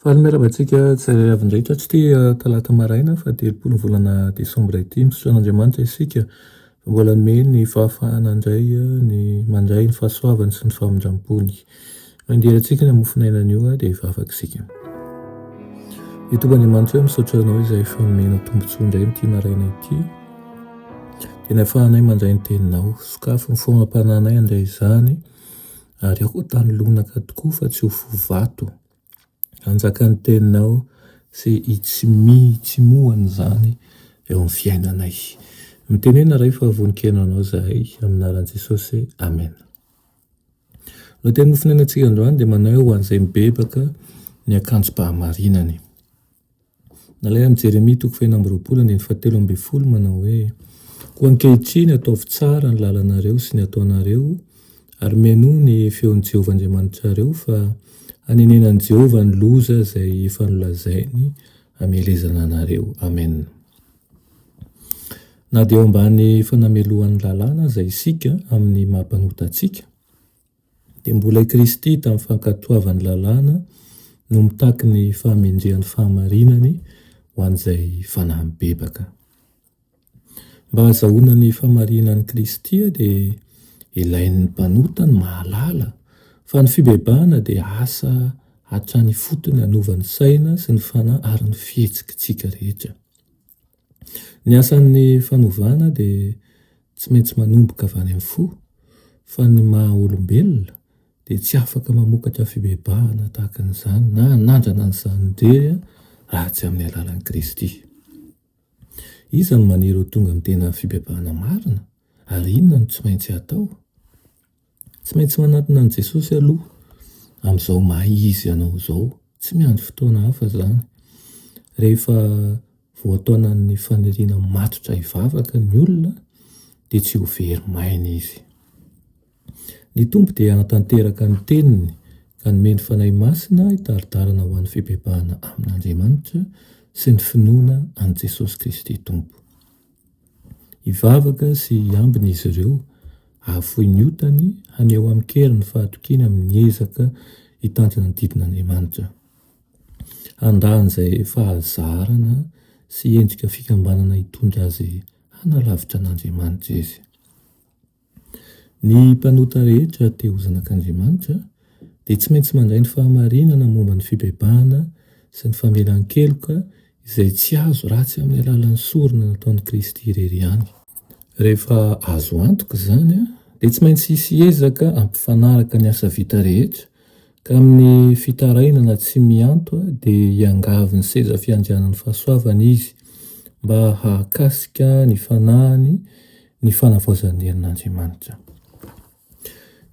Faly miarahaba antsika tsirairay avy indrindra tsy tia talata maraina faha-telopolo ny volana desambra ity. Misaotra an'Andriamanitra isika fa mbola hanome ny fahafahana indray ny mandray ny fahasoavany sy ny famindrampony. Mandeha antsika ny mofon'ainana io dia efa afaka isika. Ry Tompo Andriamanitra hoe misaotra anao izay efa nomenao tombontsoa indray amin'ity maraina ity dia ny ahafahanay mandray ny teninao. Sokafy ny foagnampanahinay handray izany. Ary aho tany lonaka tokoa fa tsy ho fo vato. Hanjaka ny teninao sy hitsimihitsimohana izany eo amin'ny fiainanay. Mitenena Ray fa vonon-kena Anao izahay, amin'ny anaran'i Jesosy, Amen. Lohatenin'ny mofon'ainantsika androany dia manahy ho an'izay mibebaka ny akanjom-pahamarinany. Nalaina amin'i Jeremia toko fahefatra amby roapolo andininy fahatelo ambin'ny folo manao hoe, Koa ankehitriny ataovy tsara ny lalanareo sy ny ataonareo, ary mihainoa ny feon'i Jehovah Andriamanitrareo, fa hanenenan'i Jehovah ny loza izay efa nolazainy hamelezana anareo. Amen. Na dia eo ambany fanamelohan'ny lalàna aza isika amin'ny maha-mpanota antsika, Dia mbola i Kristy tamin'ny fankatoavany lalàna no mitaky ny fahamendrehan'ny fahamarinany ho an'izay fanahy mibebaka. Mba hazahoana ny fahamarinan'i Kristy dia ilain'ny mpanota ny mahalala fa ny fibebahana dia asa hatrany ifotony hanova ny saina sy ny fanahy ary ny fihetsikitsika rehetra. Ny asan'ny fanovana dia tsy maintsy manomboka avy any amin'ny fo fa ny maha olombelona dia tsy afaka mamokatra fibebahana tahaka an'izany na hanandrana an'izany indrery raha tsy amin'ny alalan'i Kristy. Iza no maniry ho tonga amin'ny tena fibebahana marina ary inona no tsy maintsy atao? Tsy maintsy manantona an'i Jesosy aloha amin'izao maha izy anao izao, tsy miandry fotoana hafa izany. Rehefa voataonan'ny faniriana matotra hivavaka ny olona dia tsy ho very maina izy. Ny Tompo dia hanatanteraka ny teniny ka hanome ny Fanahy Masina hitari-dalana ho an'ny fibebahana amin'Andriamanitra sy ny finoana an'i Jesosy Kristy Tompo. Hivavaka sy hiambina izy ireo, hahafoy ny otany, haneho amin-kery ny fahatokiany amin'ny ezaka hitantana ny didin'Andriamanitra. Handà an'izay fahazarana sy endrika fikambanana hitondra azy hanalavitra an'Andriamanitra izy. Ny mpanota rehetra te ho zanak'Andriamanitra dia tsy maintsy mandray ny fahamarinana momba ny fibebahana sy ny famelan-keloka izay tsy azo ratsy amin'ny alalan'ny sorona nataon'i Kristy irery ihany. Rehefa azo antoka izany dia tsy maintsy hisy ezaka hampifanaraka ny asa vita rehetra Tamin'ny fitarainana tsy mianto dia hiangavy ny seza fiandrianan'ny fahasoavana izy mba hahakasika ny fanahiny ny fanavaozan'ny herin'Andriamanitra.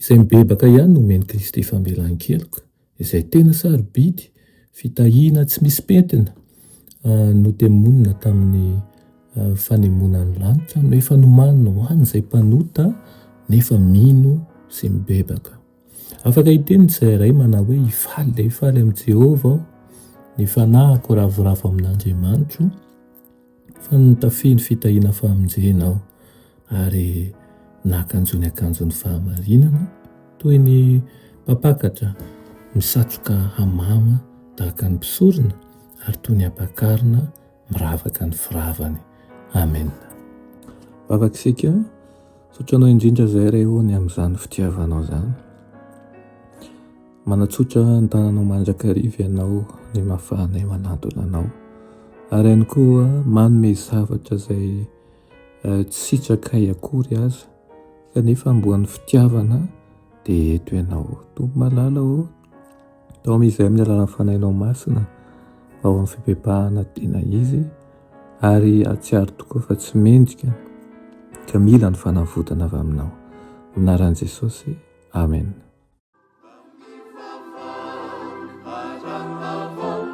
Izay mibebaka ihany no omen'i Kristy famelan-keloka, izay tena sarobidy, fitahiana tsy misy pentina, notemonina tamin'ny fanemonan'ny lanitra no efa nomaniny ho an'izay mpanota nefa mino sy mibebaka. Afaka hiteny ny tsirairay manao hoe, Hifaly dia hifaly amin'i Jehovah aho, ny fanahiko ravoravo amin'Andriamanitro, fa nitafy ny fitahiana famonjena aho, ary nakanjo ny akanjon'ny fahamarinana, toy ny mpampakatra misatroka hamama tahaka ny mpisorona, ary toy ny ampakarina, miravaka ny firavany. Amen. Vavaka isika, sotranao indrindra izay re o ny amin'izany fitiavanao izany. Manatsotra ny tananao mandrakariva ianao ny mafahanay manatona anao. Ary ihany koa manome zavatra izay eh, tsy sitrakay akory aza kanefa amboan'ny fitiavana dia eto ianao. Tompo malala o, Taomy izay amin'ny alalan'ny Fanahinao Masina ao amin'ny fibebahana tena izy ary hatsiaro tokoa fa tsy mendrika ka mila ny fanavotana avy aminao. Anaran'i Jesosy. Amen.